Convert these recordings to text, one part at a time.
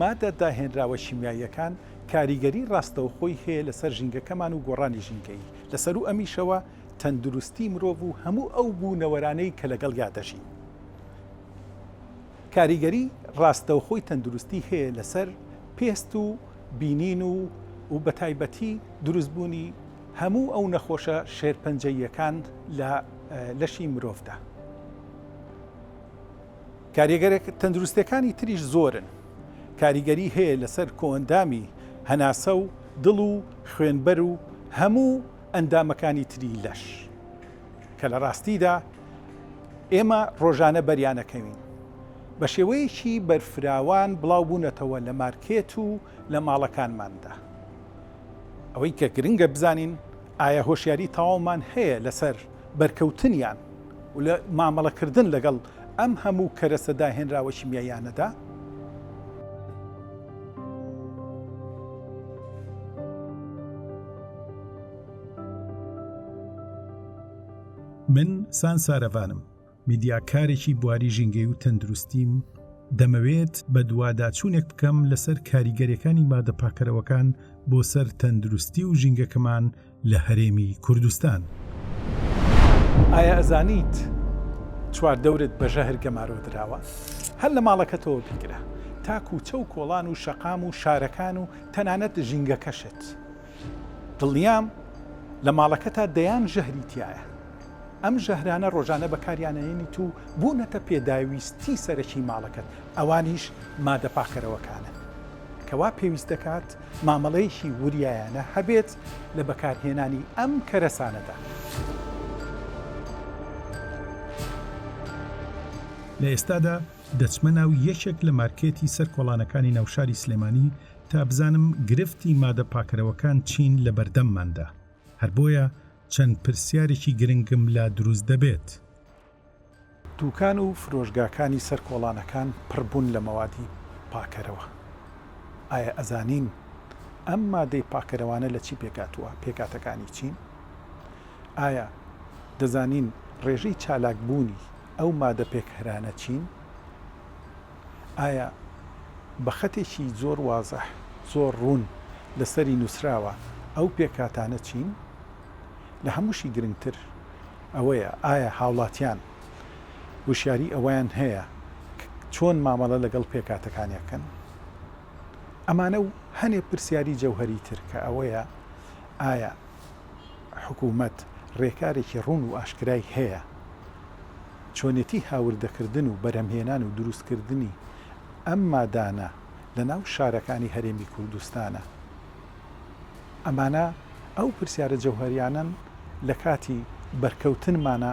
مادە داهێنراوە شیمیاییەکان کاریگەری ڕاستەوخۆی هەیە لەسەر ژینگەکەمان و گۆڕانی ژینگەیی، لەسەروو ئەمیشەوە تەندروستی مرۆڤ و هەموو ئەو بوونەوەرانەی کە لەگەڵیا دەژین کاریگەری ڕاستەوخۆی تەندروستی هەیە لەسەر پێست و بینین و و بەتایبەتی دروستبوونی هەموو ئەو نەخۆشە شێرپەنجەییەکان لە لەشی مرۆڤدا. کاریگەریە تەندروستیەکانی تریش زۆرن، کاریگەری هەیە لەسەر کۆئەندامی هەناسە و دڵ و خوێنبەر و هەموو ئەندامەکانی تری لەش کە لە ڕاستیدا ئێمە ڕۆژانە بەریانەکەوین بە شێوەیەکی بەرفراوان بڵاو بوونەتەوە لە مارکێت و لە ماڵەکانماندا ئەوەی کە گرنگە بزانین ئایا هۆشیاری تەواومان هەیە لەسەر بەرکەوتنیان و لە مامەڵەکردن لەگەڵ ئەم هەموو کەرەسە داهێنراوە شیمیاییانەدا. من سان سارەڤانم. میدیاکارێکی بواری ژینگەی و تەندروستیم دەمەوێت بە دوواداچوونێک بکەم لەسەر کاریگەریەکانی مادە پاکەرەوەکان بۆ سەر تەندروستی و ژینگەکەمان لە هەرێمی کوردستان. ئایا ئەزانیت چوار دەورت بە ژەهر گەمارۆ دراوە؟ هەر لە ماڵەکەتەوە بیگرە تا کووچە و کۆڵان و شەقام و شارەکان و تەنانەت ژینگەکەشت. دڵنیام لە ماڵەکەتا دەیان ژەهری تیایە. ئەم ژەهرانە ڕۆژانە بەکاریانئەیەنیت و بوونەتە پێداویستی سەرەکی ماڵەکەت، ئەوانیش مادە پاککەرەوەکانن. کەوا پێویست دەکات مامەڵەیەکی وریایانە هەبێت لە بەکارهێنانی ئەم کەرەسانەدا. لە ئێستادا دەچمە ناو یەکێک لە مارکێتی سەر کۆڵانەکانی ناو شاری سلێمانی تا بزانم گرفتی مادە پاکەرەوەکان چین لە بەردەمماندا، هەر بۆیە چەند پرسیارێکی گرنگم لا دروست دەبێت. دوکان و فرۆشگاکانی سەر کۆڵانەکان پڕبوون لە مەوادی پاکەرەوە، ئایا ئەزانین ئەم مادەی پاکەرەوانە لە چی پێکهاتووە، پێکهاتەکانی چین؟ ئایا دەزانین ڕێژەی چالاکبوونی ئەو مادە پێکهرانە چین؟ ئایا بە خەتێکی زۆر وازح، زۆر ڕوون لەسەری نووسراوە ئەو پێکهاتانە چین؟ لە هەمووشی گرنگتر ئەوەیە ئایا هاوڵاتیان هۆشیاری ئەوەیان هەیە ک چۆن مامەڵە لەگەڵ پێکهاتەکانی ئەکەن؟ ئەمانە و هەنێ پرسیاری جەوهەری تر کە ئەوەیە ئایا. حکومەت رێکارێکی روون و ئاشکرای هەیە چۆنێتی هاوردەکردن و بەرهەمهێنان و دروستکردنی ئەم مادانە لەناو شارەکانی هەرێمی کوردستانە؟ ئەمانە ئەو پرسیارە جەوهەریانەن لەکاتی بەرکەوتنمانە.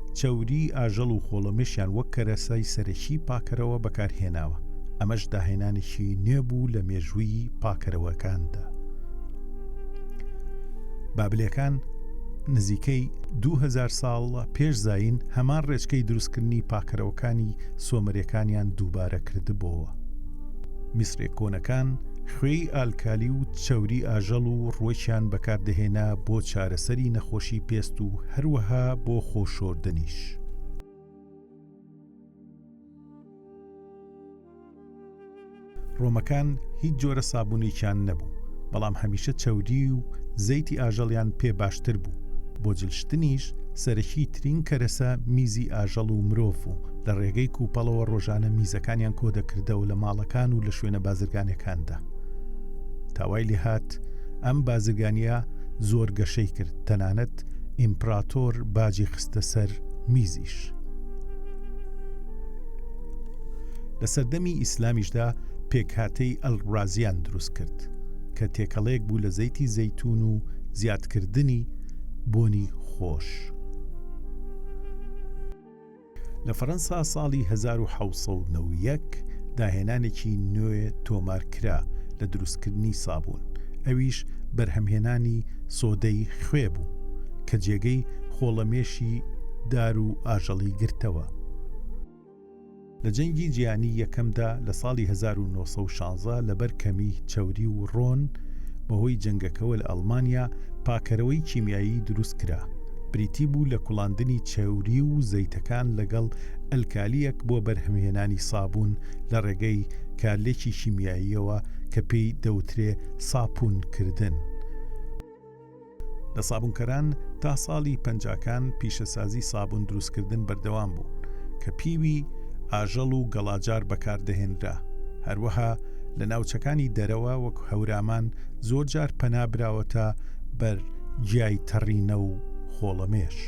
چەوریی ئاژەڵ و خۆڵەمێشیان وەک کەرەسەی سەرەکیی پاکەرەوە بەکارهێناوە، ئەمەش داهێنانێکی نوێ بوو لە مێژووی پاکەرەوەکاندا. بابلەکان نزیکەی دوو هەزار ساڵ پێش زایین هەمان ڕێچکەی دروستکردنی پاکەرەوەکانی سۆمەرەکانیان دووبارە کردبۆوە. میسرە کۆنەکان خوێی ئالکالی و چەوری ئاژەڵ و ڕوەکیان بەکاردەهێنا بۆ چارەسەری نەخۆشی پێست و هەروەها بۆ خۆشۆردنیش. ڕۆمەکان هیچ جۆرە سابونێکیان نەبوو بەڵام هەمیشە چەودی و زەیتی ئاژەڵیان پێ باشتر بوو بۆ جلشتنیش سەرەکی ترین کەرەسە میزی ئاژەڵ و مرۆڤ و لە ڕێگەی کوپەڵەوە ڕۆژانە میزەکانیان کۆدەکردەوە لە ماڵەکان و لە شوێنە بازرگانەکاندا تاوای لێهات ئەم بازرگانیە زۆر گەشەی کرد تەنانەت ئیمپراتۆر باجی خستە سەر میزیش لە سەردەمی ئیسلامیشدا پێکهاتەی ئەلڕازیان دروست کرد کە تێکەڵەیەک بوو لە زەیتی زەیتون و زیادکردنی بۆنی خۆش. لە فەرەنسا ساڵی هەزار و حەوت سەد و نەوە و یەک داهێنانێکی نوێ تۆمار کرا لە دروستکردنی سابوون، ئەویش بەرهەمهێنانی سۆدەی خوێ بوو کە جێگەی خۆڵەمێشی دار و ئاژەڵی گرتەوە. لە جەنگی جیهانی یەکەمدا لە ساڵی هەزار و نۆ سەد و شازدە لەبەر کەمی چەوری و ڕۆن بەهۆی جەنگەکەوە لە ئەڵمانیا پاکەرەوەی کیمیایی دروست کرا، بریتی بوو لە کوڵاندنی چەوری و زەیتەکان لەگەڵ ئەلکالییەک بۆ بەرهەمهێنانی سابوون لە ڕێگەی کارلێکی کیمیاییەوە کە پێی دەوترێ ساپوون کردن. لە سابوونکەران تا ساڵی پەنجاکان پیشەسازی سابوون دروستکردن بەردەوام بوو کە پیوی ئاژەڵ و گەڵاجار بەکاردەهێنرا، هەروەها لە ناوچەکانی دەرەوە وەک هەورامان زۆرجار پەنا براوەتە بەر جیای تەڕینە و خۆڵەمێش.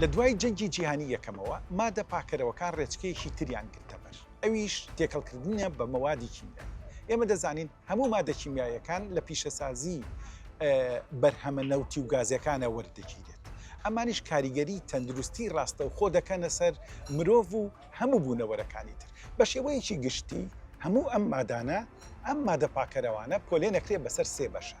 لە دوای جەنگی جیهانی یەکەمەوە مادە پاکەرەوەکان ڕێچکەیەکی تریان گرتەبەر ئەویش تێکەڵکردنە بە مەوادی کیمیایی ئێمە دەزانین هەموو مادە کیمیاییەکان لە پیشەسازی بەرهەمە نەوتی و گازیەکانە وەردەگیرێت ئەمانیش کاریگەری تەندروستی ڕاستەوخۆ دەکەنە سەر مرۆڤ و هەموو بوونەوەرەکانی تر بە شێوەیەکی گشتی هەموو ئەم مادانە ئەم مادە پاکەرەوانە پۆلێنەکرێ بەسەر سێ بەشە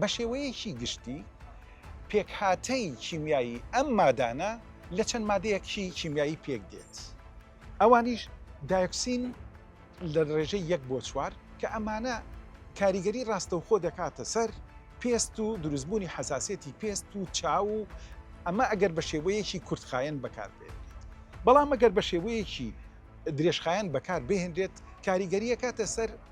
بە شێوەیەکی گشتی پێکهاتەی کیمیایی ئەم مادانە لە چەند مادەیەکی کیمیایی پێک دێت ئەوانیش دایۆکسین لە ڕێژەی یەک بۆ چوار کە ئەمانە کاریگەری ڕاستەوخۆ دەکاتە سەر پێست و دروستبوونی حساسەتی پێست و چاو و ئەمە ئەگەر بە شێوەیەکی کورتخایەن بەکاربێت بەڵام ئەگەر بە شێوەیەکی درێژخایەن بەکار بهێنرێت کاریگەریەکاتە سەر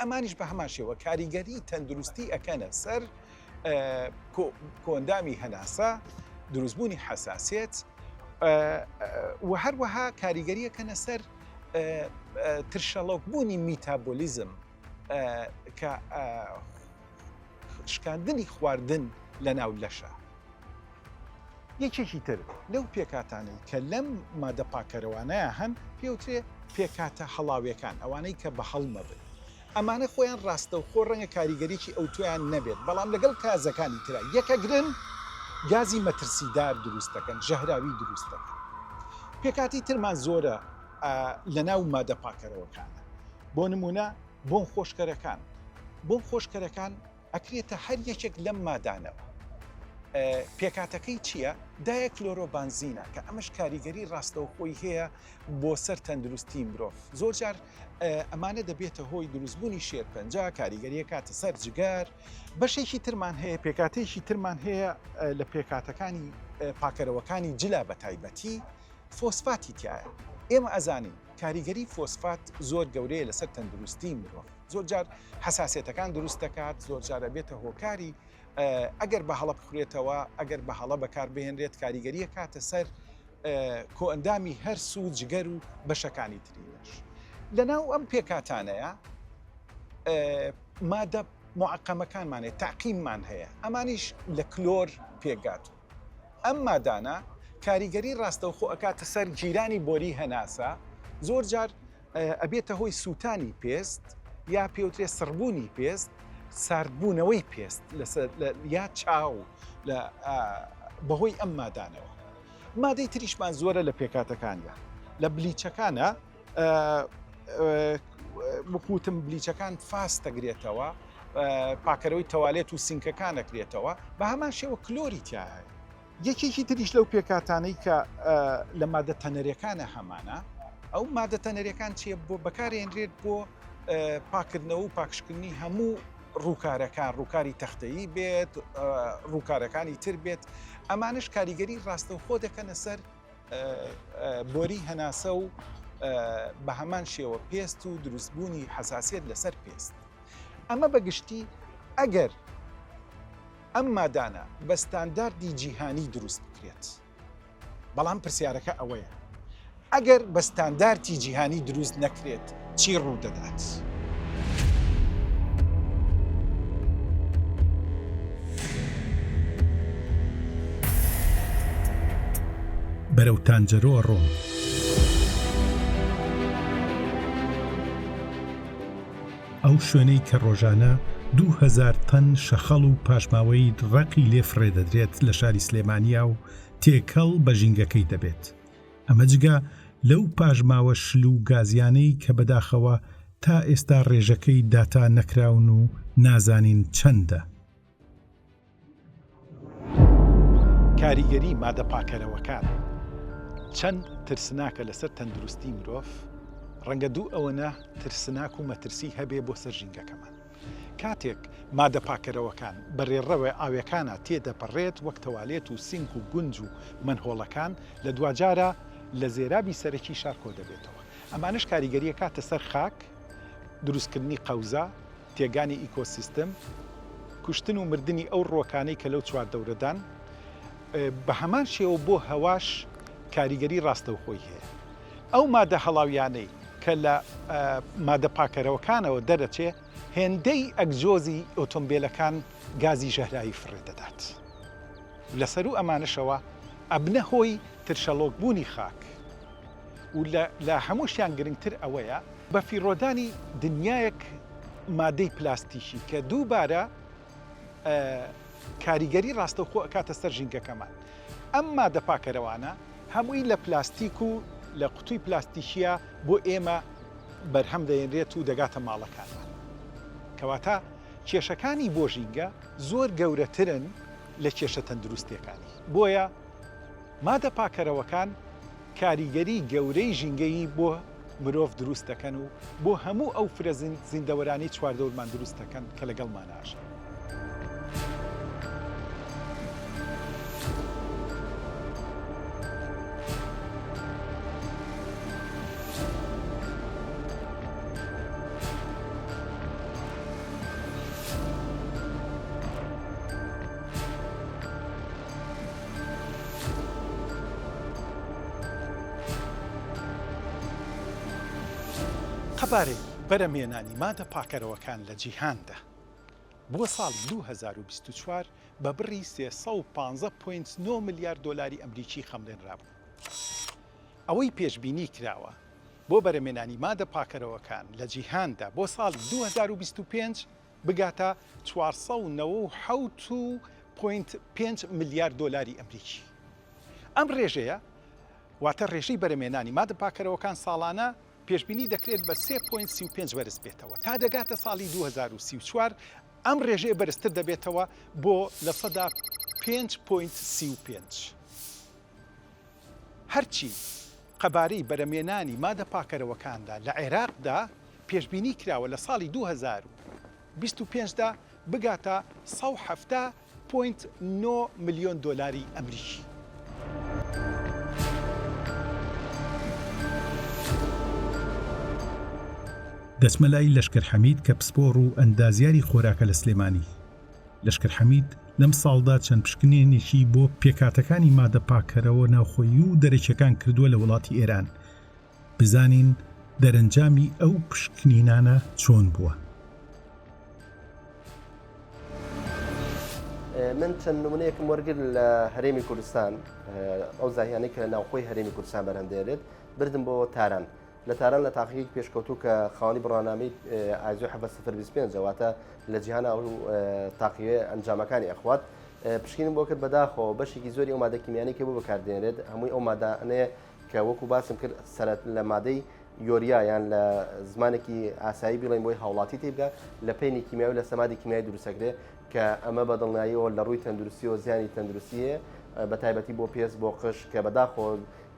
ئەمانیش بە هەمان شێوە کاریگەری تەندروستی ئەکەنە سەر کۆندامی هەناسە دروستبوونی حساسێت و هەروەها کاریگەریەکەنە سەر ترشەڵۆک بوونی میتابۆلیزم کە شکاندنی خواردن لە ناو لەشە یەکێکی تر لەو پێکهاتانەی کە لەم مادە پاککەرەوانەیە هەن پێوترێ پێکهاتە هەڵاوێکان، ئەوانەی کە بە هەڵمە بن. ئەمانە خۆیان ڕاستەوخۆ ڕەنگە کاریگەریی ئەوتۆیان نەبێت، بەڵام لەگەڵ کازەکانی ترا یەکەگرن، گازی مەترسیدار دروست دەکەن، ژەهراوی دروست دەکەن. پێکهاتەی ترمان زۆرە لەناو مادە پاککەرەوەکانە، بۆ نموونە بۆنخۆشکەرەکان، بۆنخۆشکەرەکان ئەکرێتە هەر یەکێک لەم مادانەوە. پێکهاتەکەی چییە؟ دایە کلۆرۆبانزینە کە ئەمەش کاریگەری ڕاستەوخۆی هەیە بۆ سەر تەندروستی مرۆڤ زۆرجار ئەمانە دەبێتە هۆی دروستبوونی شێرپەنجە کاریگەریە کاتە سەر جگەر بەشێکی ترمان هەیە پێکاتێکی ترمان هەیە لە پێکاتەکانی پاکەرەوەکانی جلا بە تایبەتی فۆسفاتی تایە ئێمە ئەزانین کاریگەری فۆسفات زۆر گەورەیە لەسەر تەندروستی مرۆڤ زۆرجار حساسیەتەکان دروست دەکات زۆرجار ئەبێتە هۆکاری ئەگەر بە هەڵە بخورێتەوە ئەگەر بە هەڵە بەکاربهێنرێت کاریگەریە کاتە سەر کۆئەندامی هەر سو جگەر و بەشەکانی تریش لەناو ئەم پێکاتانەیە مادە معقەمەکانمانێت تاقیممان هەیە ئەمانیش لە کلۆر پێکات ئەم مادانە کاریگەری ڕاستەوخۆ ئەکاتە سەر جیرانی بۆری هەناسە زۆر جار ئەبێتە هۆی سووتانی پێست یا پێوترێ سڕبوونی پێست ساردبوونەوەی پێست یا چاو بەهۆی ئەم مادانەوە مادەی تریشمان زۆرە لە پێکاتەکاندا لە بلیچەکانە بخوتم بلیچەکان فاست دەگرێتەوە پاکەرەوەی تەوالێت و سینکەکان دەکرێتەوە بە هەمان شێوە کلۆری تیاهەیە یەکێکی تریش لەو پێکهاتانەی کە لە مادە تەنەرەکانە هەمانە ئەو مادە تەنەرەکان چیە بۆ بەکارێنرێت بۆ پاکردنەوە و پاکشکردنی هەموو ڕووکارەکان ڕووکاری تەختەیی بێت ڕووکارەکانی تر بێت ئەمانش کاریگەری ڕاستەوخۆ دەکەنە سەر بۆری هەناسە و بە هەمان شێوە پێست و دروستبوونی حساسیت لەسەر پێست ئەمە بەگشتی ئەگەر ئەم مادانە بە ستانداردی جیهانی دروست بکرێت. بەڵام پرسیارەکە ئەوەیە ئەگەر بە ستاندارتی جیهانی دروست نەکرێت چی ڕوودەدات؟ بەرەو تانجەرۆ ئەڕۆم. ئەو شوێنەی کە ڕۆژانە دوو هەزار تەن شەخەڵ و پاشماوەی ڕەقی لێ فڕێ دەدرێت لە شاری سلێمانییە و تێکەڵ بە ژینگەکەی دەبێت، ئەمە جگە لەو پاشماوە شل و گازیانەی کە بەداخەوە تا ئێستا ڕێژەکەی داتا نەکراون و نازانین چەندە. کاریگەری مادە پاکەرەوەکان چەند ترسناکە لەسەر تەندروستی مرۆڤ ڕەنگە دوو ئەوەنە ترسناک و مەترسی هەبێ بۆ سەر ژینگەکەمان کاتێک مادە پاکەرەوەکان بەرێڕەوە ئاوێکانە تێدەپەڕێت وەک تەوالێت و سینک و گونج و منهۆڵەکان لە دواجارە لە زێرابی سەرەکی شار کۆ دەبێتەوە ئەمانش کاریگەریە کاتە سەر خاک دروستکردنی قەوزە تێکگانی ئیکۆسیستم، کوشتن و مردنی ئەو ڕووەکانەی کە لەو چواردەورەدان، بە هەمان شێوە بۆ هەواش کاریگەری ڕاستەوخۆی هەیە. ئەو مادە هەڵاویانەی کە لە مادە پاکەرەوەکانەوە دەرەچێ، هێندەی ئەگزۆزی ئۆتۆمبێلەکان گازی ژەهراوی فڕێ دەدات. لە سەروو ئەمانەشەوە ئەبنە هۆی ترشەڵۆکبوونی خاک و لە هەمووشیان گرنگتر ئەوەیە، بەفیڕۆدانی دنیایەک مادەی پلاستیکی کە دووبارە کاریگەری ڕاستەوخۆ ئەکاتە سەر ژینگەکەمان ئەم مادە پاکەرەوانە هەمووی لە پلاستیک و لە قوتوی پلاستیکیە بۆ ئێمە بەرهەم دەێنرێت و دەگاتە ماڵەکانمان کەواتە کێشەکانی بۆ ژینگە زۆر گەورەترن لە کێشە تەندروستەکانی بۆیە مادە پاکەرەوەکان کاریگەری گەورەی ژینگەیی بۆ مرۆڤ دروست دەکەن و بۆ هەموو ئەو فرە زیندەوەرانەی چواردەورمان دروست دەکەن کە لەگەڵمان ئاژین. قەبارەی بەرەمێنانی مادە پاکەرەوەکان لە جیهاندا بۆ ساڵی دوو هەزار و بیست و چوار بە بڕی سێ سەد و پازدە پۆینت نۆ ملیار دۆلاری ئەمریکی خەمڵێنرابوو. ئەوەی پێشبینی کراوە بۆ بەرەمێنانی مادە پاکەرەوەکان لە جیهاندا بۆ ساڵی دوو هەزار و بیست و پێنج بگاتە چوار سەد و نەوە و حەوت و پۆینت پێنج ملیار دۆلاری ئەمریکی. ئەم رێژەیە واتە رێژەی بەرەمێنانی مادە پاککەرەوەکان ساڵانە پێشبینی دەکرێت بە سێ پۆینت سی و پێنج بەرز بێتەوە تا دەگاتە ساڵی دوو هەزار و سی و چوار ئەم رێژەیە بەرزتر دەبێتەوە بۆ لە سەدا پێنج پۆینت سی و پێنج. هەرچی قەبارەی بەرەمێنانی مادە پاکەرەوەکاندا لە عێراقدا پێشبینی کراوە لە ساڵی دوو هەزار و بیست و پێنج دا بگاتە سەد و حەفتا پۆینت نۆ ملیۆن دۆلاری ئەمریکی. دەچمە لای لەشکەر حەمید کە پسپۆڕ و ئەندازیاری خۆراکە لە سلێمانی. لەشکر حەمید لەم ساڵدا چەند پشکنێنێکی بۆ پێکهاتەکانی مادە پاککەرەوە ناوخۆیی و دەرەکیەکان کردووە لە وڵاتی ئێران بزانین دەرەنجامی ئەو پشکنینانە چۆن بووە. من چەند نمونەیەکم وەرگر لە هەرێمی کوردستان ئەو زاهیانەی کە لە ناوخۆی هەرێمی کوردستان بەرەندێرێت بردم بۆ تاران لە تاران لە تاقیگەیەکی پێشکەوتوو کە خاوەنی بڕوانامەی ئایزۆ حەڤە سفر بیست پێنجە واتە لە جیهان ئەو تاقیگەیە ئەنجامەکانی ئەخوات پشکینم بۆ کرد بەداخەوە بەشێکی زۆری ئەو مادە کیمیانەی کە بۆ بەکاردێنرێت هەمووی ئەو مادانەیە کە وەکو باسم کرد سەرەت لە مادەی یۆریا یان لە زمانێکی ئاسایی بڵێن بۆی هاوڵاتی تێبدا لە پێنی کیمیاوی لە سەمادی کیمیای دروستەکرێ کە ئەمە بە دڵناییەوە لە ڕووی تەندروستی و زیانی تەندروستی هەیە بە تایبەتی بۆ پێست بۆ قش کە بەداخۆ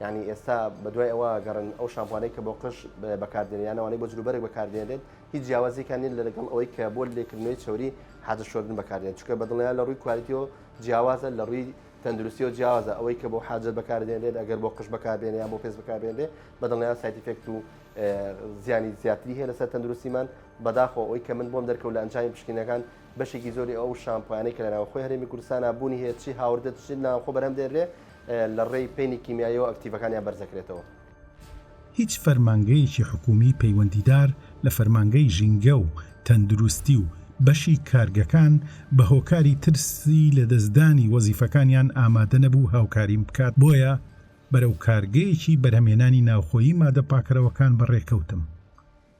یانی ئێستا بەدوای ئەوە گەڕن ئەو شامپوانەی کە بۆ قش بەکاردێنیانەوەی بۆ جروبەر بەکاردێنێت هیچ جیاوازیکان نین لە لەگەڵ ئەوەی کە بۆ لێکردنەوەی چوری حاجە شۆردن بەکاردێن چکە بەدڵیان لە ڕووی کوالیتیەوە جیاوازە لە ڕووی تەندروستی و جیاوازە ئەوەی کە بۆ حاجەت بەکاردێنێت ئەگەر بۆ قش بەکاردێن یا بۆ پێست بەکاردێنێ بەدڵیان سایتیفێکت و زیانی زیاتری هەیە لەسەر تەندروستیمان بەداخۆ ئەوی کە من بۆم دەرکەوت لە ئەنجامی پشکینەکان بەشێکی زۆری ئەو شامپوانەی کە لەناوخۆی هەرێمی کوردستانە بوونی هەیە چی هاوردە چی ناوخۆ بەرەم دێنرێ لە ڕێی پەینی کیمیاییەوە ئەکتیڤەکانیان بەرزەکرێتەوە. هیچ فەرمانگەیەکی حکوومی پەیوەندیدار لە فەرمانگەی ژینگە و تەندروستی و بەشی کارگەکان بە هۆکاری ترسی لەدەستدانی وەزیفەکانیان ئامادە نەبوو هاوکاریم بکات بۆیە بەرەو کارگەیەکی بەرهەمهێنانی ناوخۆیی مادە پاکەرەوەکان بەڕێکەوتم.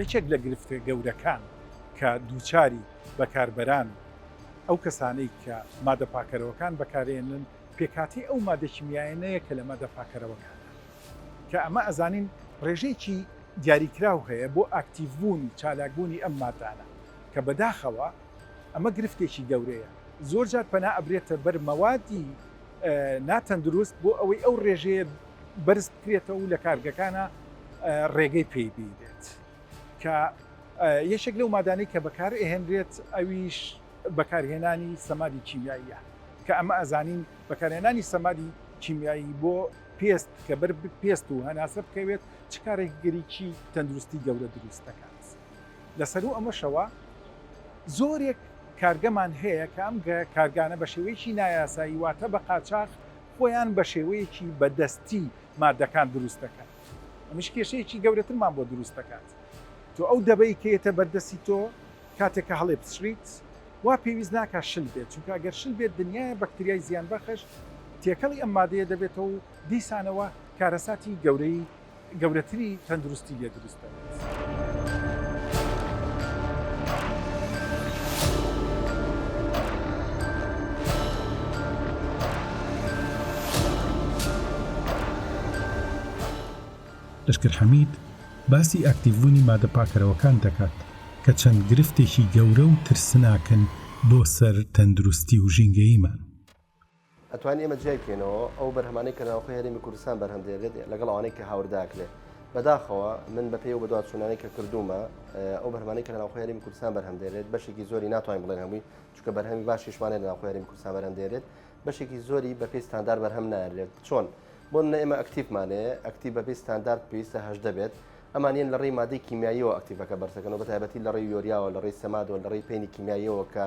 یەکێک لە گرفتە گەورەکان کە دووچاری بەکاربەران و ئەو کەسانەی کە مادە پاکەرەوەکان بەکارێنن پێکهاتەی ئەو مادە کیمیایەنەیە کە لە مادە پاکەرەوەکانە کە ئەمە ئەزانین ڕێژەیەکی دیاریکراو هەیە بۆ ئاکتیڤبوون و چالاکبوونی ئەم مادانە کە بەداخەوە ئەمە گرفتێکی گەورەیە، زۆر جار پەنا ئەبرێتە بەر مەوادی ناتەندروست بۆ ئەوەی ئەو ڕێژەیە بەرز بکرێتەوە و لە کارگەکانە ڕێگەی پێی بینرێت کە یەکێک لەو مادانەی کە بەکار ئەهێنرێت ئەویش بەکارهێنانی سەمادی کیمیاییە کە ئەمە ئەزانین بەکارهێنانی سەمادی کیمیایی بۆ پێست کە بەر پێست و هەناسە بکەوێت چ کارێکگەریی تەندروستی گەورە دروست دەکات. لەسەروو ئەمەشەوە زۆرێک کارگەمان هەیە کە ئەم کارگانە بە شێوەیەکی نایاسایی واتە بە قاچاخ خۆیان بە شێوەیەکی بە دەستی مادەکان دروست دەکەن ئەمیش کێشەیەکی گەورەترمان بۆ دروست دەکات تۆ ئەو دەبەی کێتە بەردەستی تۆ کاتێک کە هەڵێ بچریت وا پێویست ناکە شل بێت چونکە ئەگەر شل بێت دنیای بەکتریای زیان بەخش تێکەڵی ئەم مادەیە دەبێتەوە و دیسانەوە کارەساتی گەورەی گەورەتری تەندروستی لێ دروست دەبێت. لەشکر حەمید باسی ئاکتیڤبوونی مادە پاکەرەوەکان دەکات کە چەند گرفتێکی گەورە و ترسناکن بۆ سەر تەندروستی و ژینگەییمان. ئەتوانین ئێمە جیای بکەینەوە ئەو بەرهەمانەی کە ناوخۆی هەرێمی کوردستان بەرهەم دێنرێت لەگەڵ ئەوانەی کە هاوردە کرێت بەداخەوە من بە پێی و بەدواچوونانەی کە کردومە ئەو بەرهەمانەی کە ناوخۆی هەرێمی کوردستان بەرهەم دێنرێت بەشێکی زۆری ناتوانین بڵێن هەمووی چونکە بەرهەمی باشیشمانە لە ناوخۆی هەرێمی کوردستان بەرهەم دێنرێت بەشێکی زۆری بە پێی ستاندار بەرهەم نایەنرێت چۆن بۆ منە ئێمە ئەکتیفمانەیە ئەکتیف بە پێی ستاندارد پێویستە هەشدە بێت ئەمانیان لە ڕێی مادەی کیمیاییەوە ئەکتیڤەکە بەرزەکەن و بە تایبەتی لە ڕێی یۆریاوە لە ڕێی سەمادەوە لە ڕێی پێنی کیمیاییەوە کە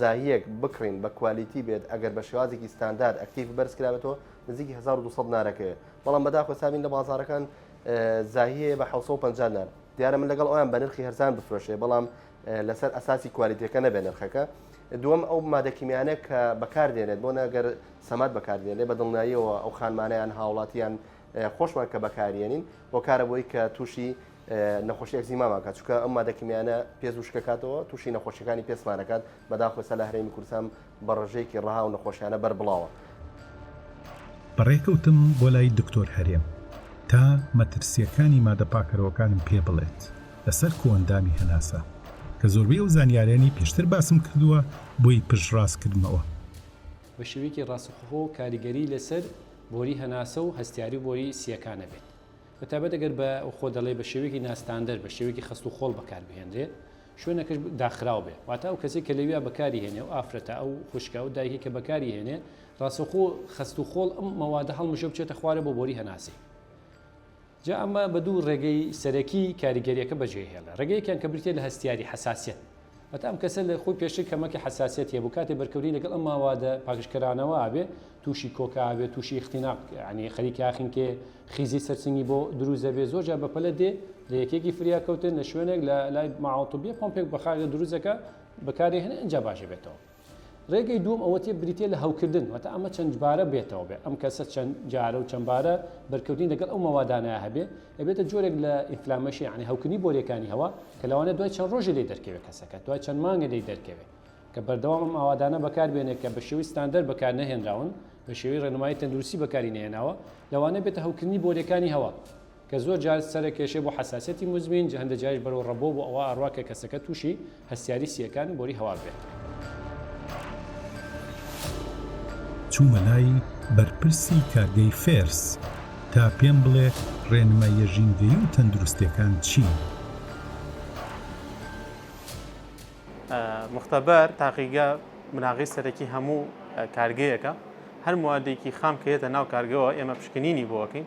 زاهیەک بکڕین بە کوالیتی بێت ئەگەر بە شێوازێکی ستاندارد ئەکتیف بەرز کرابێتەوە نزیکی 1200 نارەکەوێت بەڵام بەداخۆ سابین لە بازارەکان زاهیەیە بە 1950 نار دیارە من لەگەڵ ئەویان بە نرخی هەرزان بفرۆشێ بەڵام لەسەر ئەساسی کوالیتەکە نەبێ نرخەکە دوم ئەو مادەکیمیانە کە بەکاردێنێت بۆ نەگەر سەمات بەکاردێنێ بە دڵناییەوە ئەو خانمانیان هاوڵاتیان خۆشمان کە بەکارێنین هۆکارە بۆی کە تووشی نەخۆشی ئەکزیما ماکات چکە ئەم مادە کیمیانە پێز و شکەکاتەوە تووشی نەخۆشیەکانی پێسمانەکات بەداخۆسە لە هەرێمی کوردستان بە ڕژەیەکی ڕها و نەخۆشیانە بەر بڵاوە. بەڕێکەوتم بۆ لای دکتۆر هەرێم تا مەترسیەکانی مادە پاکەرەوەکانم پێ بڵێت لەسەر کۆئەندامی هەناسە کە زۆربەی ئەو زانیاریانەی پێشتر باسم کردووە بۆی پشتڕاست کردمەوە. بە شێوەیەکی ڕاستەخۆ کاریگەری لەسەر بۆری هەناسە و هەستیاری و بۆری سییەکان ئەبێت. بە تایبەت ئەگەر بە خۆ دەڵێ بە شێوەیەکی ناستاندەر بە شێوەیەکی خەست و خۆڵ بەکار بهێنرێ شوێنەکەش داخراو بێ واتە ئەو کەسی کە لەویا بەکاری هێنێ و ئافرەتە ئەو خوشکە و دایکی کە بەکاری هێنێ ڕاستەخۆ خەست و خۆڵ ئەم مەوادە هەڵمژە بچێتە خوارە بۆ بۆری هەناسەی جا ئەمە بە دوو ڕێگەی سەرەکی کاریگەریەکە بەجێهێڵە ڕێگەیەکیان کە بریتە لە هەستیاری حساسیت هەتا ئەم کەسە لە خۆی پێشتر کەمەکی حەساسیەتی هەبوو کاتێ بەرکەوتنی لەگەڵ ئەم ماوادە پاکژکەرانەوە ئەبێ تووشی کۆکە ئەبێ تووشی اختناق یعنی خەریکی ئاخنکێ خیزی سەرسنگی بۆ دروست دەبێ زۆر جار بەپەلە دێ لە یەکێکی فریاکەوتن لە شوێنێک لە لای ماعەڵتوبیە پۆمپێک بەخاگە دروستەکە بەکاری هەنێ ئینجا باش بێتەوە ڕێگەی دووەم ئەوەتێ بریتیە لە هەوکردن واتە ئەمە چەندجبارە بێتەوە بێ ئەم کەسە چەند جارە و چەندبارە بەرکەوتنی لەگەڵ ئەو مەوادانە هەبێ ئەبێتە جۆرێک لە ئینفلامەشی یعنی هەوکردنی بۆریەکانی هەوا کە لەوانە دوای چەند ڕۆژی لێ دەرکەوێت کەسەکە دوای چەند مانگە لێ دەرکەوێت کە بەردەوام ئەم ئاوادانە بەکار بێنێت کە بە شێوی ستاندەر بەکار نەهێنراون بە شێوی ڕێنمایی تەندروستی بەکاری نێناوە لەوانە بێتە هەوکردنی بۆریەکانی هەوا کە زۆر جار سەرە کێشەی بۆ حەساسیەتی موزمین جا هەندە جاریش بەرەو ڕەبۆ بۆ ئەوا ئەڕوا کە کەسەکە توشی هەستیاری سیەکان بۆری هەوار بێت. چوومە لای بەرپرسی کارگەی فێرس تا پێم بڵێ ڕێنماییە ژینگەیی و تەندروستیەکان چین؟ مختبر تاقیگە بناغەی سەرەکی هەموو کارگەیەکە هەر موادێکی خام کە یەتە ناو کارگەوە ئێمە پشکنینی بۆ ئەکەین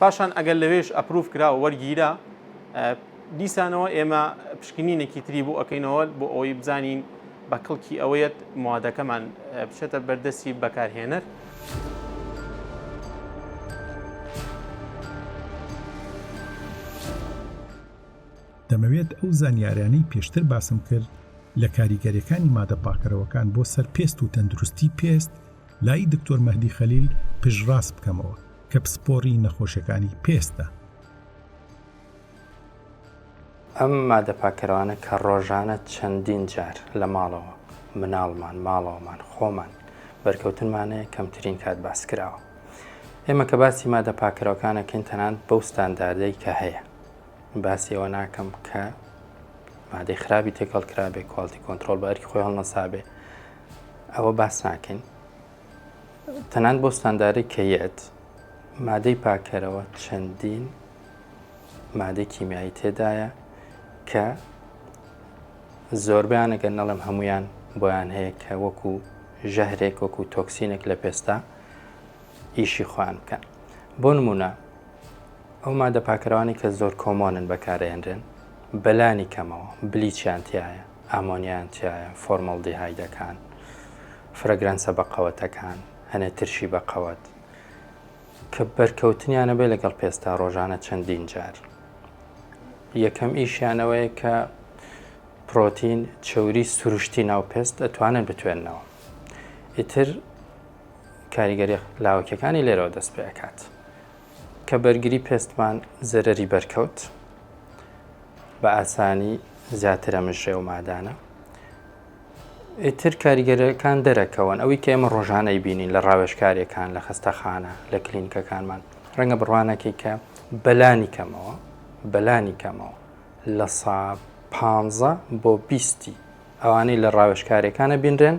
پاشان ئەگەر لەوێش ئەپروف کرا و وەرگیرا دیسانەوە ئێمە پشکنینێکی تری بۆ ئەەکەینەوە بۆ ئەوەی بزانین بە کڵکی ئەوەیەت موادەکەمان بچێتە بەردەستی بەکارهێنەر. دەمەوێت ئەو زانیارانەی پێشتر باسم کرد لە کاریگەریەکانی مادە پاکەرەوەکان بۆ سەر پێست و تەندروستی پێست لای دکتۆر مەهدی خەلیل پشتڕاست بکەمەوە کە پسپۆڕی نەخۆشەکانی پێستە. ئەم مادە پاککەرەوانە کە ڕۆژانە چەندین جار لە ماڵەوە، مناڵمان، ماڵەوەمان، خۆمان، بەرکەوتنمان هەیە کەمترین کات باس کراوە. ئێمە کە باسی مادە پاککەرەوەکان ئەکەین تەنانەت بەو ستانداردەی کە هەیە. باسی ئەوە ناکەم کە مادەی خراپی تێکەڵ کرابێ، کواڵتی کۆنترۆڵ بە ئەرکی خۆی هەڵنەسابێ. ئەوە باس ناکەین تەنان بۆ ستاندارەی کە یەت مادەی پاکەرەوە چەندین مادەی کیمیایی تێدایە کە زۆربیان ئەگەر نەڵم هەمویان بۆیان هەیە کە وەکو ژەهرێک وەکو تۆکسینێک لە پێستا ئیشی خۆیان بکەن بۆ نمونە ئەو مادە پاکەرەوانی کە زۆر کۆمۆنن بەکارێنرێن بەلانی کەمەوە بلیچیان تایە ئامۆنیایان تیایە، فۆرماڵدیهایدەکان، فرەگرەنسە بەقەوەتەکان، هەنێ ترشی بەقەوەت کە بەرکەوتنیانە بێ لەگەڵ پێستا ڕۆژانە چەندین جار. یەکەم ئیشیانەوەیە کە پرۆتین چەوری سروشتی ناو پێست ئەتوانن بتوێنەوە. ئیتر کاریگەری لاوەکیەکانی لێرەوە دەست پێکات. کە بەرگری پێستمان زەرەری بەرکەوت بە ئاسانی زیاتر ئەمژێ و مادانە ئیتر کاریگەرەکان دەرەکەون ئەوی کە ئێمە ڕۆژانەی بینین لە ڕاوێشکارێکان لە خستەخانە لە کلینکەکانمان ڕەنگە بڕوانەکەی کە بەلانی کەمەوە بەلانی کەمەوە لە سا پ بۆ بیستی ئەوانەی لە ڕاوێشکارەکانە بینرێن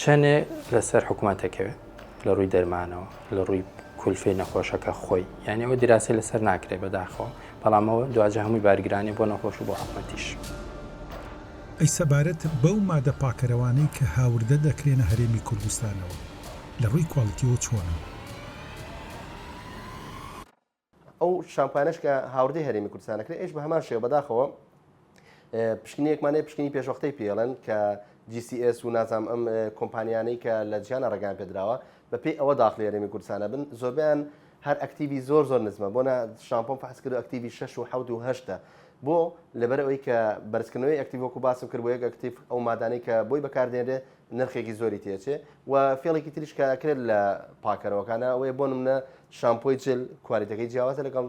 چەنێ لەسەر حکوومەت دەکەوێت لە ڕووی دەرمانەوە لە ڕووی کولفی نەخۆشەکە خۆی یعنی ئەوە دراسی لەسەر ناکرێت بەداخەوە بەڵامەوە دواجە هەمووی بارگرانی بۆ نەخۆش و بۆ حکوومەتیش. ئەی سەبارەت بەو مادە پاکەرەوانەی کە هاوردە دەکرێنە هەرێمی کوردستانەوە لە ڕووی کوالیتیەوە چۆنن؟ ئەو شامپانەش کە هاوردەی هەرێمی کوردستانە کرێ ئێش بە هەمان شێوە بەداخەوە پشکنیەکمانەیە پشکنی پێشوەختەی پێڵەن کە GCS و نازام ئەم کۆمپانیانەی کە لە جیانە ڕگان پێدراوە بە پێی ئەوە داخلی هەرێمی کوردستانە بن زۆربیان هەر ئەکتیوی زۆر زۆر نزمە بۆ شامپۆم فحس کرد ئەکتیوی 6 و 7 و 8 بۆ لەبەر ئەوەی کە بەرزکردنەوەی ئەکتیڤۆک و باسم کرد بۆ یەک ئەکتیف ئەو مادانەی کە بۆی بەکاردێنرێ نرخێکی زۆری تێچێ و فێڵێکی تریش کە ئەکرێت لە پاکەرەوەکانە ئەوەیە بۆ منە شامپۆی جل کوالیتەکەی جیاوازە لەگەڵ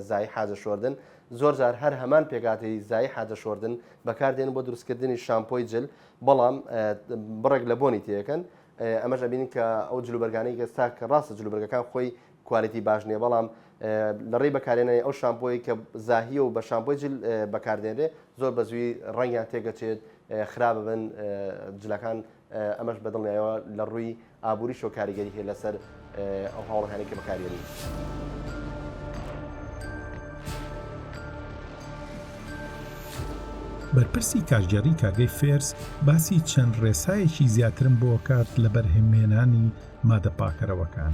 زای حاجە شۆردن زۆر جار هەر هەمان پێکاتی زای حاجە شۆردن بەکاردێن بۆ دروستکردنی شامپۆی جل بەڵام بڕێک لە بۆنی تێەکەن ئەمەش ئەبین کە ئەو جلوبەرگانەی گەستا کە ڕاستە جلوبەرگەکان خۆی کوالێتی باش نیە بەڵام لە ڕێی بەکارێنانی ئەو شامپۆی کە زاهیە و بە شامپۆی جل بەکاردێنێ زۆر بە زووی ڕەنگیان تێگەچێت خراپ بن جلەکان ئەمەش بەدڵنیایەوە لە ڕووی ئابووری شۆ کاریگەری هەیە لەسەر ئەو هاوڵەکانی کە بەکارێنی. بەرپرسی کارگێڕی کارگەی فێرس باسی چەند ڕێسایەکی زیاترم بۆکات لە بەرهەمێنانی مادە پاکەرەوەکان.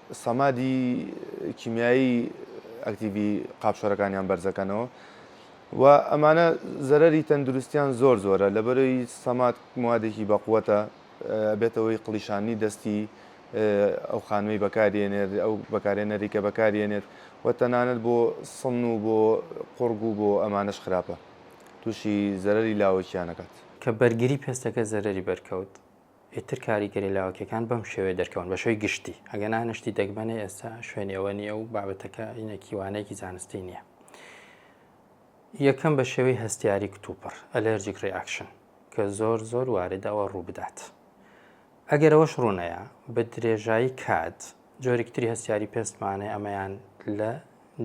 سەمادی کیمیایی ئەکتیڤی قاپشەرەکانیان بەرزەکەنەوە و ئەمانە زەرەری تەندروستیان زۆر زۆرە لەبەرەی سەماد موادێکی بەقوەتە بێتەوەی قڵیشانی دەستی ئەو خانمی بەکارێنێت ئەو بەکارێنەری کە بەکارێنێت و تەنانەت بۆ سن و بۆ قوڕگ و بۆ ئەمانەش خراپە تووشی زەرەری لاوەکییانەکات. کە بەرگری پێستەکە زەرەری بەرکەوت ئیتر کاریگەری لاوەکیەکان بەم شێوەیە دەرکەون بە شێوەی گشتی، ئەگەنا نەشتی دەگمەنە ئێستا شوێنی ئەوە نییە و بابەتەکە ئینەکی وانەیەکی زانستی نییە. یەکەم بە شێوەی هەستیاری کتوپڕ ئەلەرجیک ڕیاکشن کە زۆر زۆر واردەوە ڕوو بدات. ئەگەر ئەوەش ڕوونەیە بە درێژایی کات جۆرێکتری هەستیاری پێستمانێ ئەمەیان لە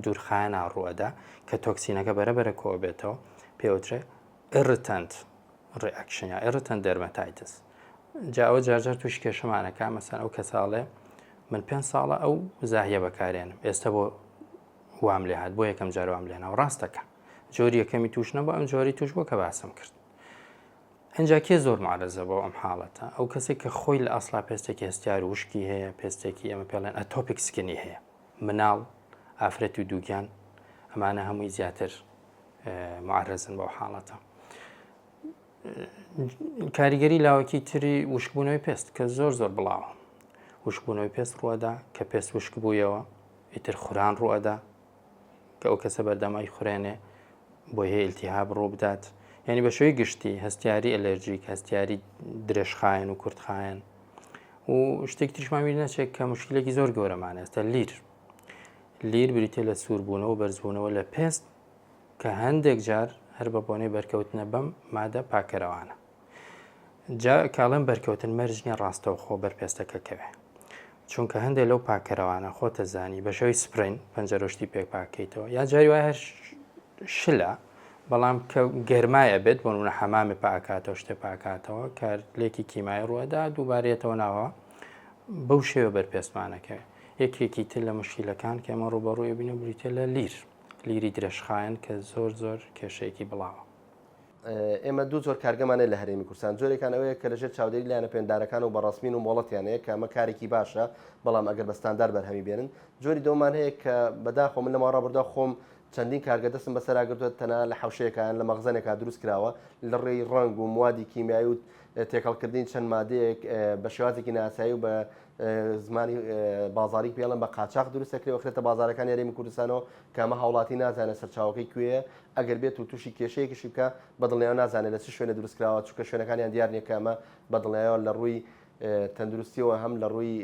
دوورخایەنا ڕووەدا کە تۆکسینەکە بەرەبەرە کۆ بێتەوە پێوترێ Irritant Reaction یا Irritant Dermatitis جا ئەوە جارجار تووشی کێشەمانەکە مەسەن ئەو کەساڵێ من پێنج ساڵە ئەو زاهیە بەکارێنم ئێستا بۆ وام لێ هاات بۆ یەکەم جار وام لێنا و ڕاستەکە جۆری یەکەمی توش نەبوو ئەم جۆری توش بووە کە باسم کرد ئەجا کێ زۆر معرەزە بۆ ئەم حاڵەتە ئەو کەسێک کە خۆی لە ئەسلا پێستێکی هەستیار وشکی هەیە پێستێکی ئەمە پێڵێن ئەتۆپیکسکنی هەیە مناڵ، ئافرەت و دووگیان ئەمانە هەمووی زیاتر معرەزن بەو حاڵەتە. کاریگەری لاوەکی تری وشکبوونەوەی پێست کە زۆر زۆر بڵاوە وشکبوونەوەی پێست ڕوەدا کە پێست وشک بوویەوە ئیتر خوران ڕوەدا کە ئەو کەسە بەردەمای خورێنێ بۆ هەیە ئیلتیها بڕوو بدات یعنی بە شوی گشتی هەستیاری ئەلەرژیک هەستیاری درێژخایەن و کورتخایەن و شتێک تریشمان بیر نەچێت کە مشکلێکی زۆر گەورەمان ئێستا لیر لیر بریتە لە سووربوونەوە بەرزبوونەوە لە پێست کە هەندێک جار هەر بە بۆنەی بەرکەوتنە بەم مادە پاکەرەوانە جا کاڵم بەرکەوتن مەرجنیە ڕاستەوخۆ بەرپێستەکە کەوێ چونکە هەندێک لەو پاکەرەوانە خۆتە زانی بەشەوەی سپرین پەنجەرۆشتی پێک پاکەیتەوە یا جاری وای هەر شلە بەڵام کە گەرمای ئەبێت بۆ نمونە حەمامێ پاکاتەوە شتێ پاکاتەوە کە لێکی کیمای ڕوەدا دووبارەتەوە ناوە بەو شێوە بەرپێستمانەکە یەکێکی تر لە مشکیلەکان کە ئەمە ڕوبەڕووی بینە بریتە لە لیر لیری درێژخایەن کە زۆر زۆر کێشەیەکی بڵاوە ئێمە دوو زۆر کارگەمانە لە هەرێمی کوردستان جۆرێکان ئەوەیە کە لەژێر چاودێری لایەنە پێندارەکان و بەڕسمین و مۆڵەتیانەیە کە ئەمە کارێکی باشە بەڵام ئەگەر بەستاندار بەرهەمی بێنن جۆری دۆمان هەیە کە بەداخۆ من لە ماڕابردا خۆم چەندین کارگە دەستم بەسەرا گرتووە تەنها لە حەوشەیەکا یان لە مەخزەنێکا دروست کراوە لەڕێی ڕەنگ و موادی کیمیایی و تێکەڵکردنی چەند مادەیەک بە شێوازێکی نایاسایی و بە زمانی بازاریک پێڵێن بە قاچاخ دروست دەکرێت و خرێتە بازارەکانی هەرێمی کوردستانەوە کە ئەمە هاوڵاتی نازانێت سەرچاوەکەی کوێیە ئەگەر بێت و تووشی کێشەیەکیشی بکا بەدڵنیایەوە نازانێت لە چ شوێنێ دروست کراوە چونکە شوێنەکانیان دیار نییە کە ئەمە بەدڵنیایەوە لە ڕووی تەندروستیەوە هەم لە ڕووی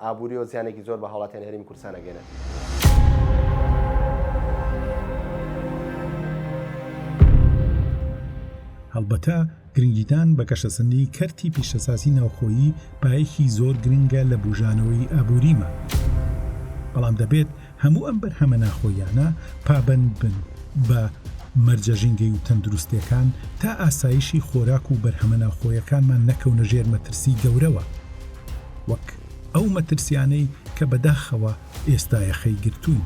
ئابووری و زیانێکی زۆر بە هاوڵاتیان هەرمی کورسان نەگەێنێت. هەڵبەتە گرنگیدان بە گەشەسەندنی کەرتی پیشەسازی ناوخۆیی پایەکی زۆر گرنگە لە بژانەوەی ئابووریمان بەڵام دەبێت هەموو ئەم بەرهەمە ناخۆییانە پابەند بن بە مەرجە ژینگەی و تەندروستیەکان تا ئاسایشی خۆراک و بەرهەمە ناوخۆیەکانمان نەکەونە ژێر مەترسی گەورەوە وەک ئەو مەترسیانەی کە بەداخەوە ئێستایەخەی گرتوون.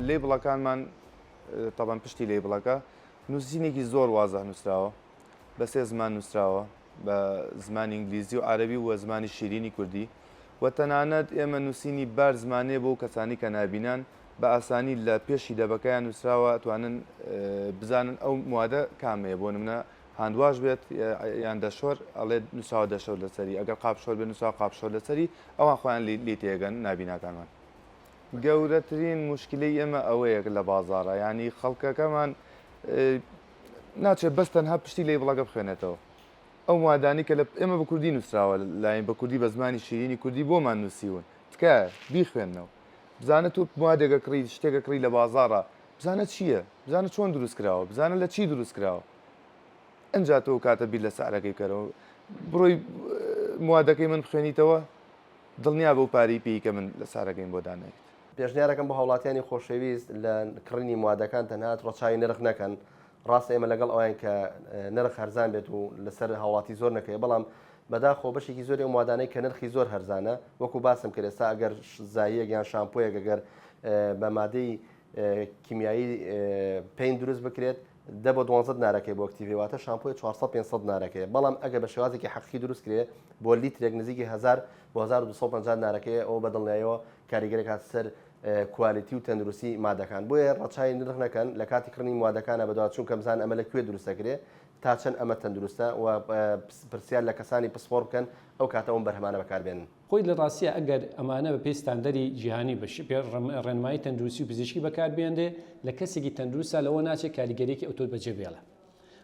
لەیبڵەکانمان تەبەن پشتی لەیبڵەکە نووسینێکی زۆر وازە نووسراوە بە سێ زمان نووسراوە بە زمانی ئینگلیزی و عربی و زمانی شیرینی کوردی و تەنانەت ئێمە نووسینی بار زمانێ بۆ کەسانی کە نابینان بە ئاسانی لە پێشی دەبەکەیان نووسراوە توانن بزانن ئەو موادە کامەیە بۆ منە هاندواش بێت یان دەشۆر ئەڵێ نووسراوە دەشۆر لەسەری ئەگەر قاپشۆر بێ نووسا قاپشۆر لەسەری ئەوان خۆیان لی تێگەن نابیناکانمان گەورەترین مشکلی ئێمە ئەوەیەک لە بازارە ینی خەڵکەکەمان ناچێت بەس تەنها پشتی لی بڵەکە بخوێنێتەوە ئەو وادانی کە لە ئێمە بە کوردی نووسراوە لاین بە کوردی بە زمانی شیرینی کوردی بۆمان نووسیون تکە بیخوێندنەوە بزانە تۆ مادێکە کڕی شتێکە کڕی لە بازارە بزانە چییە بزانە چۆن دروست کراوە بزانە لە چی دروست کراوە ئەجا تۆ کاتە بیر لە سعرەکەی کەرەوە بڕۆی موادەکەی من بخوێنیتەوە دڵنیا بە و پارەی پێی کە من لە سارەکەین بۆ دانێت پێشنیارەکەم بۆ هاوڵاتیانی خۆشەویست لە کڕینی موادەکان تەنهات ڕەچوی نرخ نەکەن ڕاستە ئێمە لەگەڵ ئەویان کە نرخ هەرزان بێت و لەسەر هاوڵاتی زۆر نەکەی بەڵام بەداخەوە بەشێکی زۆری ئەو موادانەی کە نرخی زۆر هەرزانە وەکو باسم کرد ئێستا ئەگەر زاییەک یان شامپۆیەک ئەگەر بە مادەی کیمیایی پین دروست بکرێت دە بۆ دوانزە نارەکەی بۆ کتیڤی واتە شامپۆی 400 500 نارەکەی بەڵام ئەگەر بە شێوازێکی حەقی دروست کرێ بۆ لیترێک نزیکی 1000 بۆ 1250 نارەکەی ئەو بەدڵنیایەوە کاریگەرێک هات سەر کوالیتی و تەندروستی مادەکان بۆیە ڕەچای نرخ نەکەن لە کاتی کڕنی موادەکانە بەدوا چونکە بزان ئەمە لە کوێ دروستەکرێ تا چەند ئەمە تەندروستە و پرسیار لە کەسانی پسپۆڕ بکەن ئەو کاتە ئەوم بەرهەمانە بەکار بێنن. خۆی لە ڕاستیە ئەگەر ئەمانە بە پێی ستاندەری جیهانی بە شێ ڕێنمایی تەندروستی و پزیشکی بەکار بێنرێ لە کەسێکی تەندروستا لەوە ناچێ کاریگەریەکی ئەوتۆ بە جێ بێڵێ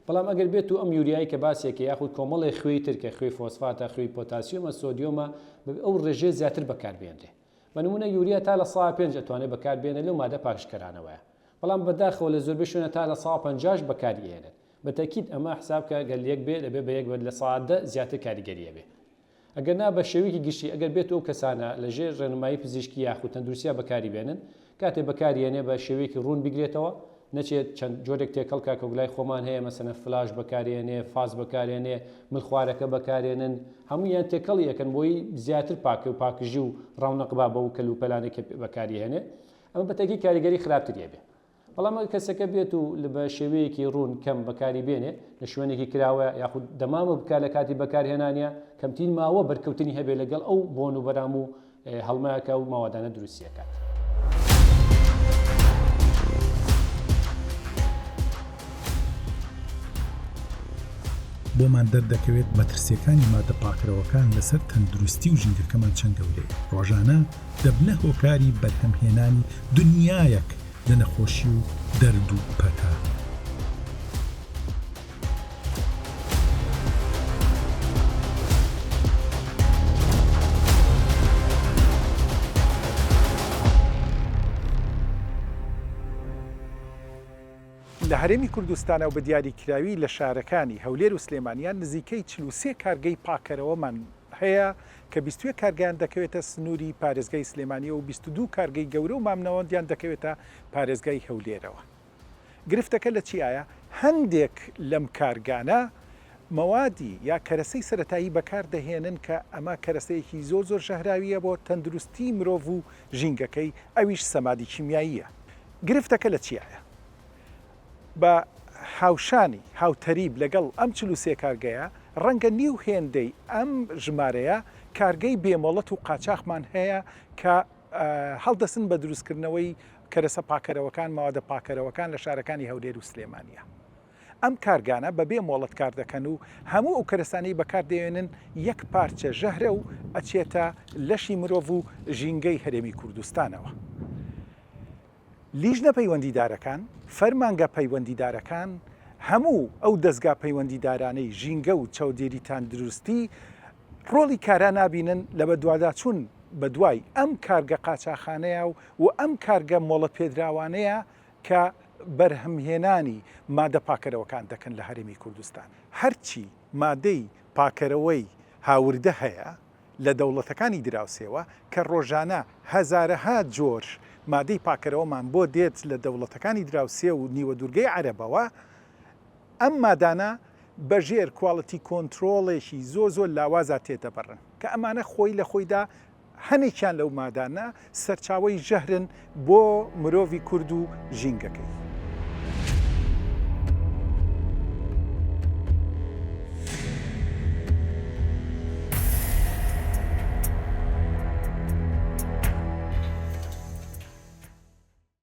بەڵام ئەگەر بێتو ئەم یوریای کە باسێکی یاخود کۆمەڵێ خوێی تر کە خوێی فۆسفاتە خوێی پۆتاسیۆمە سۆدیۆمە بە ئەو ڕێژەیە زیاتر بەکار بێنرێ بە نمونە یوریا تا لە سەدا پێنج ئەتوانێ بەکار بێنێ لەو مادە پاکژکەرانەوەیە. بەڵام بەداخەوە لە زۆربەی شوێنە تا لە سەا پەنجاش بەکاری ئەهێنن بە تەکید ئەمە حسابکە گەر یەک بێت ئەبێت بە یەک بێت لە سەا دە زیاتر کاریگەری ئەبێت ئەگەر نا بە شێوەیەکی گشتی ئەگەر بێت ئەو کەسانە لە ژێر ڕێنمایی پزیشکی یاخود تەندروستیا بەکاری بێنن کاتێ بەکاری یەنێ بە شێوەیەکی ڕوون بیگرێتەوە نەچێت چەند جۆرێک تێکەڵکە کەگلای خۆمان هەیە مەسەنە فلاش بەکارێنێ فاز بەکارێنێ ملخوارەکە بەکارێنن هەموو یان تێکەڵی یەکەن بۆی زیاتر پاکە و پاکژی و ڕاونەقبا بە و کەلوپەلانێک بەکاری هێنێ ئەمە بە تەکی کاریگەری خراپتری ئەبێ. بەڵام ئەگەر کەسەکە بێت و بە شێوەیەکی ڕوون کەم بەکاری بێنێ، لە شوێنێکی کراوەیە یاخود دەمامک بکا لە کاتی بەکارهێنانیا، کەمترین ماوە بەرکەوتنی هەبێ لەگەڵ ئەو بۆن و بەرام و هەڵمەیە کە ئەو مەوادانە دروستی ئەکات. بۆمان دەردەکەوێت مەترسییەکانی مادە پاکرەوەکان لەسەر تەندروستی و ژینگەکەمان چەند گەورەیە. ڕۆژانە. دەبنە هۆکاری بەرهەمهێنانی دنیایەک لە نەخۆشی و دەرد و پەتا. لە هەرێمی کوردستان و بە دیاریکراوی لە شارەکانی هەولێر و سلێمانیان نزیکەی چل و سێ کارگەی پاککەرەوەمان هەیە کە بیست و یەک کارگەیان دەکەوێتە سنووری پارێزگای سلێمانیەوە و بیست و دوو کارگەی گەورە و مامناوەندیان دەکەوێتە پارێزگای هەولێرەوە گرفتەکە لە چیایە هەندێک لەم کارگانە مەوادی یا کەرەسەی سەرەتایی بەکار دەهێنن کە ئەمە کەرەسەیەکی زۆر زۆر ژەهراویە بۆ تەندروستی مرۆڤ و ژینگەکەی ئەویش سەمادی کیمیاییە گرفتەکە لە چیایە بە هاوشانی، هاوتەریب لەگەڵ ئەم چل و سێ کارگەیە، ڕەنگە نیو هێندەی ئەم ژمارەیە کارگەی بێ مۆڵەت و قاچاخمان هەیە کە هەڵدەستن بە دروستکردنەوەی کەرەسە پاکەرەوەکان، مەوادە پاکەرەوەکان لە شارەکانی هەولێر و سلێمانییە. ئەم کارگانە بە بێ مۆڵەت کار دەکەن و هەموو ئەو کەرەسانەی بەکار دەێنن یەک پارچە ژەهرە و ئەچێتە لەشی مرۆڤ و ژینگەی هەرێمی کوردستانەوە. لیژنە پەیوەندیدارەکان، فەرمانگە پەیوەندیدارەکان، هەموو ئەو دەزگا پەیوەندیدارانەی ژینگە و چاودێری تاندروستی ڕۆڵی کارا نابینن لە بەدواداچوون بەدوای ئەم کارگە قاچاخانەیە و ئەم کارگە مۆڵەتپێدراوانەیە کە بەرهەمهێنانی مادە پاکەرەوەکان دەکەن لە هەرێمی کوردستان. هەرچی مادەی پاکەرەوەی هاوردە هەیە، لە دەوڵەتەکانی دراوسێوە کە ڕۆژانە هەزارەها جۆر مادەی پاکەرەوەمان بۆ دێت لە دەوڵەتەکانی دراوسێ و نیوەدوورگەی عەرەبەوە ئەم مادانە بە ژێر کواڵتی کۆنترۆڵێکی زۆر زۆر لاوازا تێدەبڕن کە ئەمانە خۆی لە خۆیدا هەنێکیان لەو مادانە سەرچاوەی ژەهرن بۆ مرۆڤی کورد و ژینگەکەی.